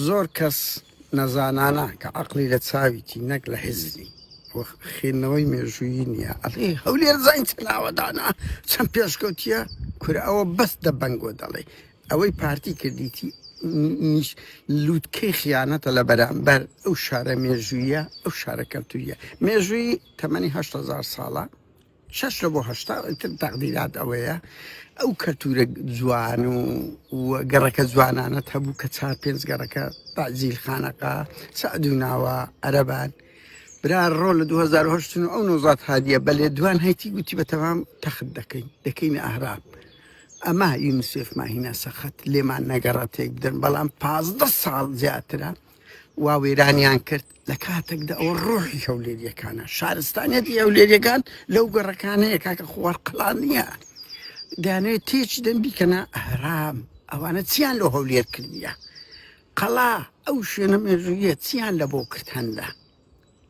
زۆر کەس نەزانانە کە عەقڵی لە چاویتی نەک لە هزری و خوێندنەوەی مێژوویی نییە ئەڵێ هەولێر زانین چەند ئاوەدانە چەند پێشکەوتییە کورە ئەوە بەس دەبەنگۆ دەڵێ ئەوەی پارتی کردیتی نیش لووتکەی خیانەتە لە بەرامبەر ئەو شارە مێژوویە ئەو شارە کەلتوریە مێژووی تەمەنی هەشت هەزار ساڵە شەش لە بۆ هەشتا ئیتر تەقدیرات ئەوەیە ئەو کەلتوورە جوان و و گەڕەکە جوانانەت هەبوو کە چار پێنج گەڕەکە تازیل خانەقا سعد و ناوە عەرەبان برا ڕۆ لە 2010 و ئەو نۆزات هادیە بە لێدوان هەیتی گوتی بە تەمام تەخت دەکەین دەکەینە ئەهراب ئەما یونسێف ماهینا سەخت لێمان نەگەڕە تێک بدەن بەڵام پازدە ساڵ زیاترە وا وێرانیان کرد لە کاتێکدا ئەوە ڕۆحی هەولێریەکانە شارستانیەتی هەولێریەکان لەو گەڕەکانەیە کاکە خوار قلان نییە دانێ تێچ دەم بیکەنە ئارام ئەوانە چیان لە هەولێر کردیە قەڵا ئەو شوێنە مێژوویە چیان لە بۆ کرد هەندە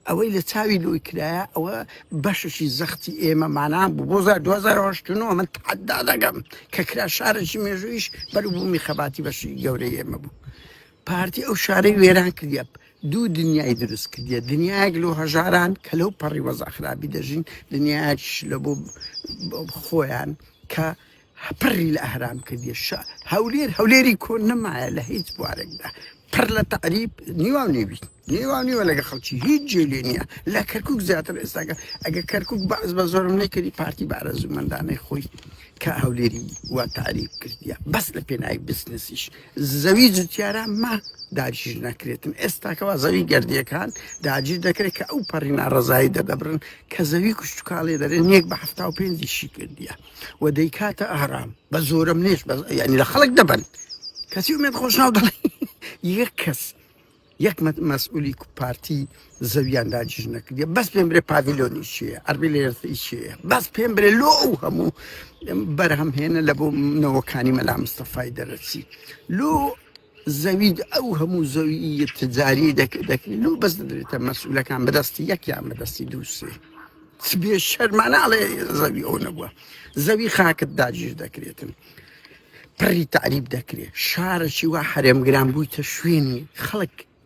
ئەوەی لە چاوی لۆی کرایە ئەوە بەشەشی زەختی ئێمە مانا بوو بۆ زار دوزار هەشتنەوە من تحدا دەگەم کە کرا شارێکی مێژوویش بەر بوو میخەباتی بەشی گەورەی ئێمە بوو پارتی ئەو شارەی وێران کردە دوو دنیای دروست کردە دنیایەک لۆ هەژاران کە لەو پەڕی وەزاخرابی دەژین دنیاش لە بۆ خۆیان کە پڕی لە ئەهرام کردیە شا هەولێر هەولێری کۆن نەمایە لە هیچ بوارێکدا پڕ لە تعریب نیوا و نێوی نیوا نیوە لەگە خەڵکی هیچ جێ لێ نییە لە کەرکک زیاتر ئێستاگە ئەگە کەرکک باز بە زۆرم نەکردی پارتی بارەزوومەندانەی خۆی کە هەولێری وا تعریب کردیە بەس لە پێناوی بزنسیش زەوی جوتیارە ما داگیر نەکرێتن ئێستاکەوا زەوی گردیەکان داگیر دەکرێت کە ئەو پەڕی ناڕزایی دەدەبرن کە زەوی کوشتتوکاڵێ دەرێن یەک بە هەفتا و پێنجیشی کردیە و دەیکاتە ئارام بە زۆرم نێش ینی لە خەڵک دەبن کەسی ومێت خۆشناو دەڵێ یەک کەس یەک مەسئولی پارتی زەویان داجیش نەکردی بەس پێم برێ پاڤیلۆنی چیە ئەربی لێرسی چیە بەس پێم برێ لۆ ئەو هەموو بەرهەمهێنە لە بۆ نەوەکانی مەلا مستەفای دەرەچی لۆ زەوی ئەو هەموو زەویی تجاری دەکرێت لۆ بەس دەدرێتە مەسئولەکان بەدەستی یەکیان بەدەستی دووسێ بێ شەرمانناڵێ زەوی ئەو نەبووە زەوی خاکت داگیر دەکرێتن پڕی تعریب دەکرێت شارەکی وا حرێمگران بوویتە شوێنی خەڵک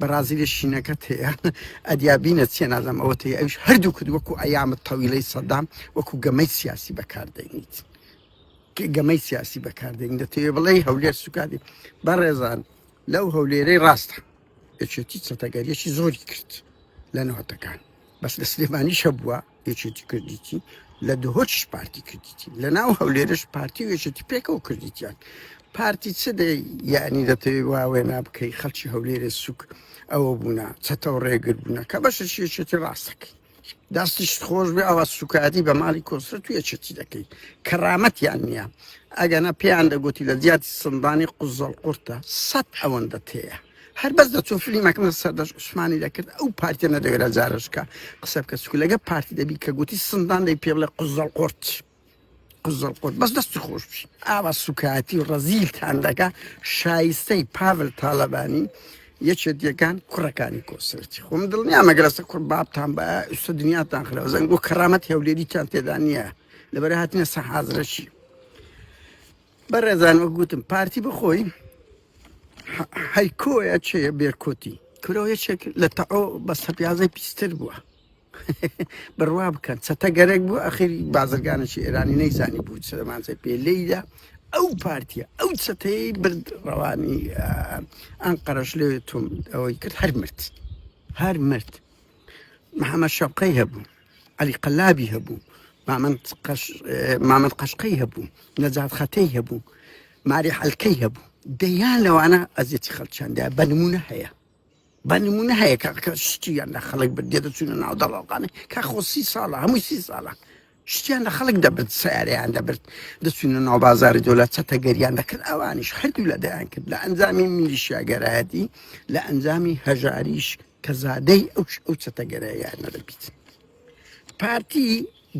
بەڕازیلێ شینەکەت هەیە ئەدیا بینە چێ نازەم ئەوە تێ ئەوش هەردوو کرد وەکو ئەیامە تەویلەی سەدام وەکو گەمەی سیاسی بەکاردەینیت گەمەی سیاسی بەکاردەین دەتەوێ بڵێ هەولێر سوکادی بەڕێزان لەو هەولێرەی ڕاستە یەکێتی چەتەگەریەکی زۆری کرد لە نەوەتەکان بەس لە سلێمانیشە بووە یەکێتی کردیتی لە دهۆچش پارتی کردیتی لە ناو هەولێرش پارتی و یەکێتی پێکەوە کردیتیان پارتی چ دەی یعنی دەتەوێ واوێ نابکەی خەڵکی هەولێرە سوک ئەوە بوونا چەتەوە ڕێگر بوونە کە بەشە شێچێتی ڕاستەکەی دەستیش خۆش بێ ئەوە سوکاتی بە ماڵی کۆسرە تو یەکێتی دەکەی کەڕامەتیان نییە ئەگەنا پێیان دەگوتی لە زیاتی سندانی قوزەڵ قورتە سەد ئەوەندە تەیە هەر بەس دەچۆ فلیمەکەم لە سەردەش عوسمانی دەکرد ئەو پارتیە نەدەگەرە جارشکە قسە بکە چکو لەگە پارتی دەبی کە گوتی سندان دەی پێڵە قزەڵ قرت قزەڵ قرت بەس دەستی خۆش بشی ئاوا سوکایەتی و ڕەزیلتان دەکە شایستەی پاڤل تاالبانی یەکێت یەکان کوڕەکانی کۆسرەتی خۆم دڵنیا مەگەرەسە کوڕ بابتان بە ئوستا دنیاتان خراوە زەنگ بۆ کەرامەت هەولێریتان تێدا نییە لەبەر هاتنە سە حازرەشی بەڕێزان وەک گوتم پارتی بخۆی ح- هەیکۆیە چێ بێرکۆتی کورەوە یەکێک لە تەعۆ بە سەپیازەی پیستر بووە بڕوا بکەن چەتە گەرەک بوو ئەخیر بازرگانێکی ئێرانی نەیزانی بوو سلمانزای پێ لێیدا ئەو پارتیە ئەو چەتەی برد ڕەوانی ئەم قەرش لێ تۆم ئەوەی کرد هەر مرد هەر مرد محەممەد شەوقەی هەبوو عەلی قەلابی هەبوو، مامەند قەشقەی هەبوو، نەجات خەتەی هەبوو، ماری حەلکەی هەبوو، دەیان لەوانە ئەزیەتی خەڵکیاندا بە نمونە هەیە بە نمونە هەیە کە شتیان لە خەڵک بردێ دەچوونە ناو دەڵاوقانە کا خۆ سی ساڵە هەمووی سی ساڵە شتیان لە خەڵک دەبرد سیارەیان دەبرد دەچوونە ناو بازاری دۆلە چەتە گەریان دەکرد ئەوانیش هەردوو لە دەیان کرد لە ئەنجامی میلیشیاگەرایەتی لە ئەنجامی هەژاریش کە زادەی ئەو ئەو چەتەگەرایانە دەبیت پارتی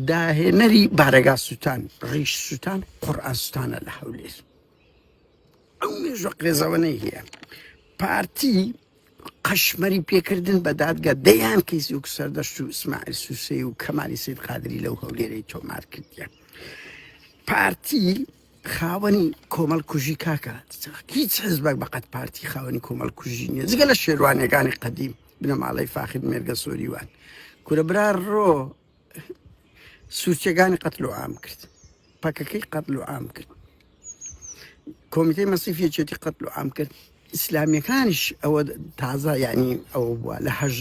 داهێنەری بارەگا سووتان ڕیش سووتان قڕئاستانە لە هەولێر ئەو مێژوە قێزەوەەی هەیە پارتی قەشمەری پێکردن بە دادگە دەیان کەیسی و سەردەشت و ئسماعل سووسی و کەمالی سید قادری لەو هەولێرەی تۆمار کردیان پارتی خاوەنی کۆمەڵ کوژی کاکە هیچ حزبەک بەقەت پارتی خاوەنی کۆمەڵ کوژی نیە جگە لە شێروانەکانی قەدیم بنەماڵەی فاخر مێرگە سۆریوان کورە برا ڕۆ سوچەکانی قەتل و ئام کرد پەکەکەی قەتل و ئام کرد کۆمیتەی مەسیفیەتی قەتل و ئام کرد ئیسلامیەکانیش ئەوە تازە یانی ئەوە بووە لە هەژ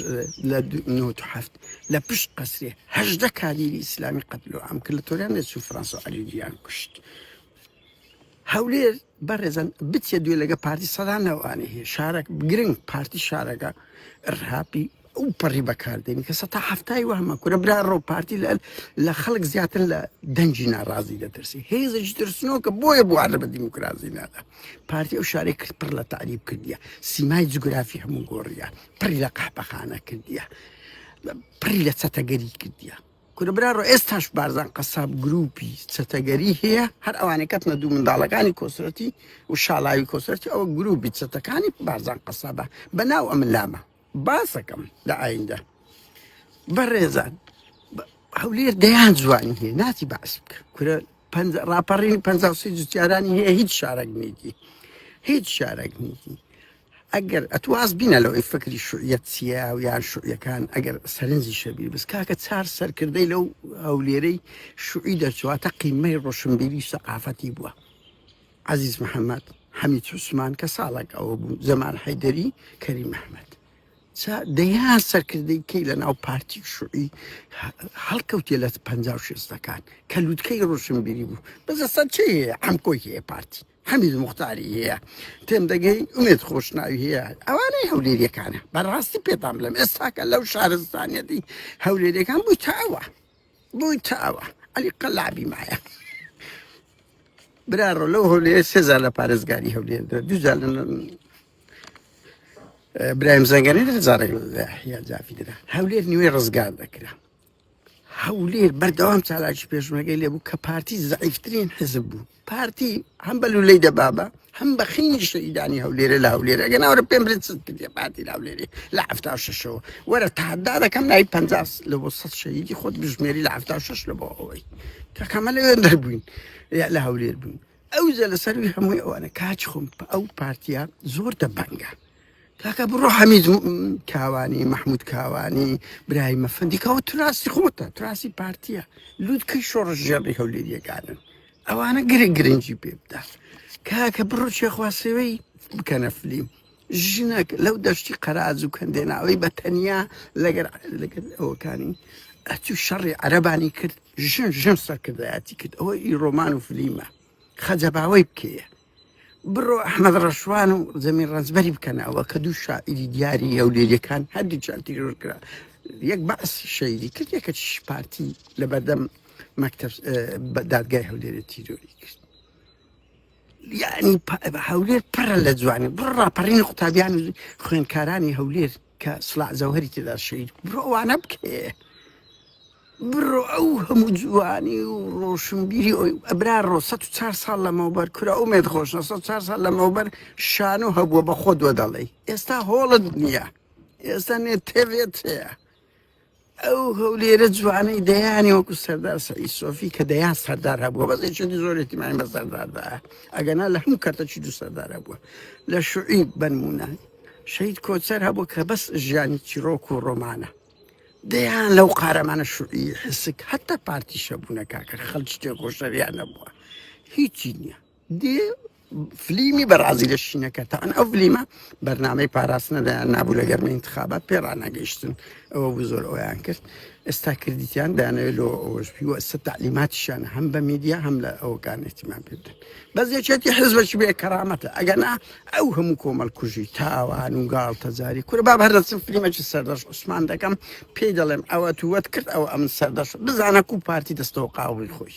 لە نوت هەفت لە پشت قەسری هەژدە کادیری ئیسلامی قەتلو ئەم کرد لە تۆریان لە سو فرانسا علیجیان کوشت هەولێر بەڕێزن بچێ دوێ لەگە پارتی سەدانەوانی هەیە شارەک گرنگ پارتی شارەکە ڕهاپی ئەو پەڕی بەکاردێنی کە سەتا هەفتای وەهمە کورە برا ڕۆ پارتی لە لە خەڵک زیاتر لە دەنجی ناڕازی دەترسی هێزش ترسنۆکە بۆیە بوارە بە دیموکراسی نادا پارتی ئەو شارێک کرد پڕ لە تعریب کردیە سیمای جوگرافی هەموو گۆڕیە پڕی لە قەحپەخانە کردیە پڕی لە چەتەگەری کردیە کورە برا ڕۆ ئێستاش بارزان قەساب گروپی چەتەگەری هەیە هەر ئەوانەی کەتنە دوو منداڵەکانی کۆسرەتی و شاڵاوی کۆسرەتی ئەو گروپی چەتەکانی بارزان قەسابە بەناو ئەم لامە باسەکەم لە ئایندە بەڕێزان هەولێر دەیان جوانی هەیە ناتی باسی بکە کورە ڕاپەڕین پ جوتیارانی هەیە هیچ شارەک نیتی هیچ شارەک نیتی ئەگەر ئەتواز بینە لەوەی فکری شوعەت چیە و یان شوعەکان ئەگەر سەرنجی شەبیر بس کاکە چار سەرکردەی لەو هەولێرەی شوعی دەرچواتە قیمەی ڕۆشنبیری سەقافەتی بووە عەزیز محەمەد، حەمید عوسمان، کە ساڵێک ئەوە بوو، جەمال حەیدەری، کەریم ئەحمەد. جا دەیان سەرکردەی کەی لە ناو پارتی و شوعی هەڵکەوتێ لە پەنجا و شێستەکان کە لوتکەی ڕۆشنبیری بوو، بەس ئەستا چێی هەیە؟ عەمکۆی هەیە پارتی، حەمید موختاری هەیە، تێم دەگەی، ئومێد خۆشناوی هەیە، ئەوانەی هەولێریەکانە، بەڕاستی پێتان بڵێم ئێستاکە لەو شارستانیەتی هەولێریەکان بوویتە ئەوە. بویتەوە علی قەلابی مایە برا ڕۆ لەو هەولێر سێزار لە پارێزگاری هەولێر درا دوجار لە برایم زەنگەنە لە زارێک یا جافی درا هەولێر نیوەی ڕزگار دەکرا هەولێر بەردەوام چالاکی پێشمەگەی لێبوو کە پارتی زعیفترین حزب بوو پارتی هەم بە لولەی دەبابە هەم بە خینی شەیدانی هەولێرە لە هەولێر ئەگە ناوەرە پێم برێت چت کردە پارتی لە هەولێری لە هەفتا و شەشەوە وەرە تادا دەکەم نای پ لە بۆ سە شەیدی خۆت بژمێری لە هەفتا و شش لە بۆ ئەوەی کەکەمە لە وێن دەربووین لە هەولێر بووین ئەو جە لە سەروی هەمووی ئەوانە کاچ خۆم ئەو پارتیا زۆر دەبەنگە کاکە بڕۆ حەمید کاوانی مەحمود کاوانی برای مەفەندی کەەوە تراسی خۆتە تراسی پارتیە لووتکەی شۆڕش ژێڕی هەولێریەکانن ئەوانە گرە گرنگی پێ بدات کاکە بڕۆ چێخواسەوەی بکەنە فلیم ژنەک لەو دەشتی قەراز و کەندێناوەی بە تەنیا لەگەر لەگەر ئەوەکانی ئەتو شەڕی عەربانی کرد ژن ژن سەرکردایەتی کرد ئەوە ئی ڕۆمان و فلیمە خەجەباوەی بکەیە بڕۆ ئەحمەد ڕەشوان و زەمین ڕەزبەری بکەن ئەوە کە دوو شاعری دیاری هەولێریەکان هەردووچان تیرۆر کرا یەک بەعس شەیدی کرد یەکە پارتی لە بەردەم مەکتب دادگای هەولێری تیرۆری کرد یعنی هەولێر پڕە لە جوانی بڕ ڕاپەڕین قوتابیان خوێنکارانی هەولێر کە سڵاح جەوهەری تێدا شەهید بوو بڕۆ ئەوانە بکێ بڕۆ ئەو هەموو جوانی و ڕۆشنبیری ئەوی ئەبرا ڕۆ 400 ساڵ لەمەوبەر کورە ئەو مێت خۆش 400 ساڵ لەمەوبەر شان و هەبووە بە خۆ دووە دەڵێ ئێستا هۆڵت نییە ئێستا نێت تێوێت هەیە ئەو هەولێرە جوانەی دەیانی وەکو سەردار سەعی سۆفی کە دەیان سەردار هەبووە بەس چێتی زۆرێتی مای بە سەرداردا ئەگەنا لە هەموو کەرتەچی دوو سەردار هەبووە لە شوعی بنمونە شەید کۆچەر هەبوو کە بەس ژیانی چیرۆک و ڕۆمانە دەیان لەو قارەمانە شوعی حسک هەتا پارتیشە بوونە کاکە خەلچ تێکۆشەریان نەبووە هیچی نییە دی فلیمی بەرازی لە شینەکە تاان ئەو فلیمە بەرنمەی پاراستنە دەیان نابوو لە گەرمە انتخابات پێ ڕناگەیشتن ئەوە بوو زۆر ئەویان کرد ئێستا کردیان دانەوێت لۆ ئەوەشبی و ئەستا تعلیماتیشان هەم بە میدیا هەم لە ئەوکان احتیمان پێ بدەن بەس یەکێتی حزبەش بێ کەرامەتە ئەگەنا ئەو هەموو کۆمەل کوژی تاوان و گاڵ تەجاری کورە با هەردەچم فلیمەکی سەردەش عوسمان دەکەم پێی دەڵێم ئەوە تووەت کرد ئەو ئەم سەردەش بزانە کو پارتی دەستەوە قاوی خۆش